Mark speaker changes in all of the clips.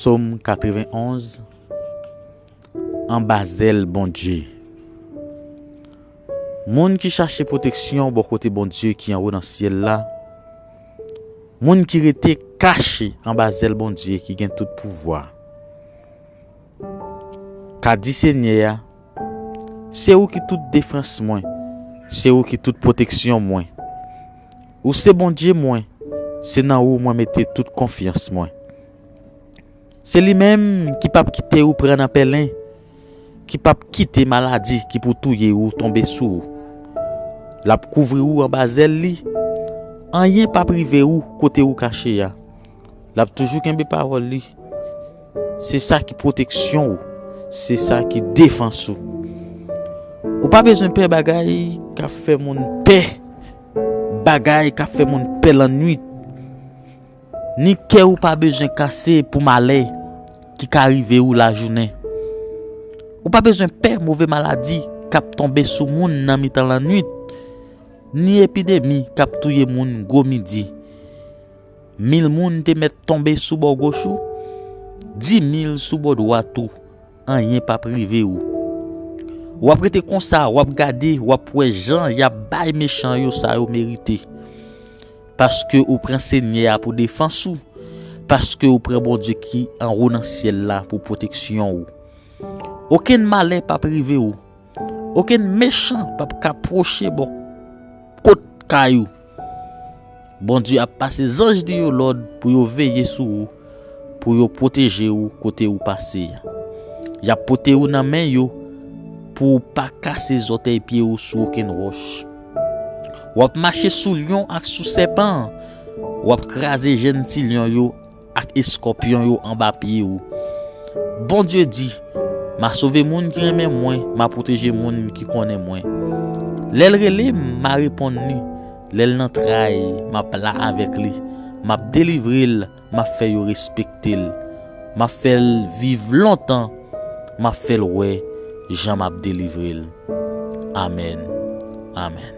Speaker 1: Sòm 91 Anba zèl Bondye Moun ki chache pwoteksyon bò kote Bondye ki anwo nan syèl la, moun ki rete kache anba zèl Bondye ki gen tout pouvwa. Ka di Senyè a, Se ou ki tout defans mwen, se ou ki tout pwoteksyon mwen. Ou se Bondye mwen, se nan ou mwen mete tout konfyans mwen. Se li menm ki pap kite ou pran nan pèlen, ki pap kite maladi ki pou touye ou tonbe sou ou. L ap kouvri ou anba zèl li, anyen pap rive ou kote ou kache a. L ap toujou kenbe pawòl li. Se sa ki pwoteksyon ou. Se sa ki defans ou. Ou pa bezwen pè bagay k ap fè moun pè. Bagay k ap fè moun pè lannuit. Ni kè ou pa bezwen kase pou malè ki ka rive ou lajounen. Ou pa bezwen pè move maladi k ap tonbe sou moun nan mitan lannuit. Ni epidemi k ap touye moun gwo midi. Mil moun te mèt tonbe sou bò goch ou, dimil sou bò dwat ou, anyen p ap rive ou. W ap rete konsa, w ap gade, w ap wè jan y ap bay mechan yo sa yo merite. Paske ou pran Senyè a pou defans ou, paske ou pran Bondye ki anwo nan syèl la pou pwoteksyon ou. Okenn malè p ap rive ou, okenn mechan p ap ka pwoche bò kot kay ou. Bondye ap pase zanj li yo lòd pou yo veye sou ou, pou yo pwoteje ou kote ou pase a. Y ap pote ou nan men yo pou ou pa kase zòtèy pye ou sou okenn wòch. W ap mache sou lyon ak sou sèpan, w ap kraze jenn ti lyon yo Ak eskòpyon yo anba pye ou. Bondye di, M a sove moun ki renmen mwen, m a pwoteje moun ki konnen mwen. Lè l rele m, m a reponn li, lè l nan tray, m ap la avèk li, m ap delivre l, m ap fè yo respekte l, m ap fè l viv lontan, m ap fè l wè jan m ap delivre l. Amèn, amèn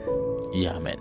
Speaker 1: e amèn.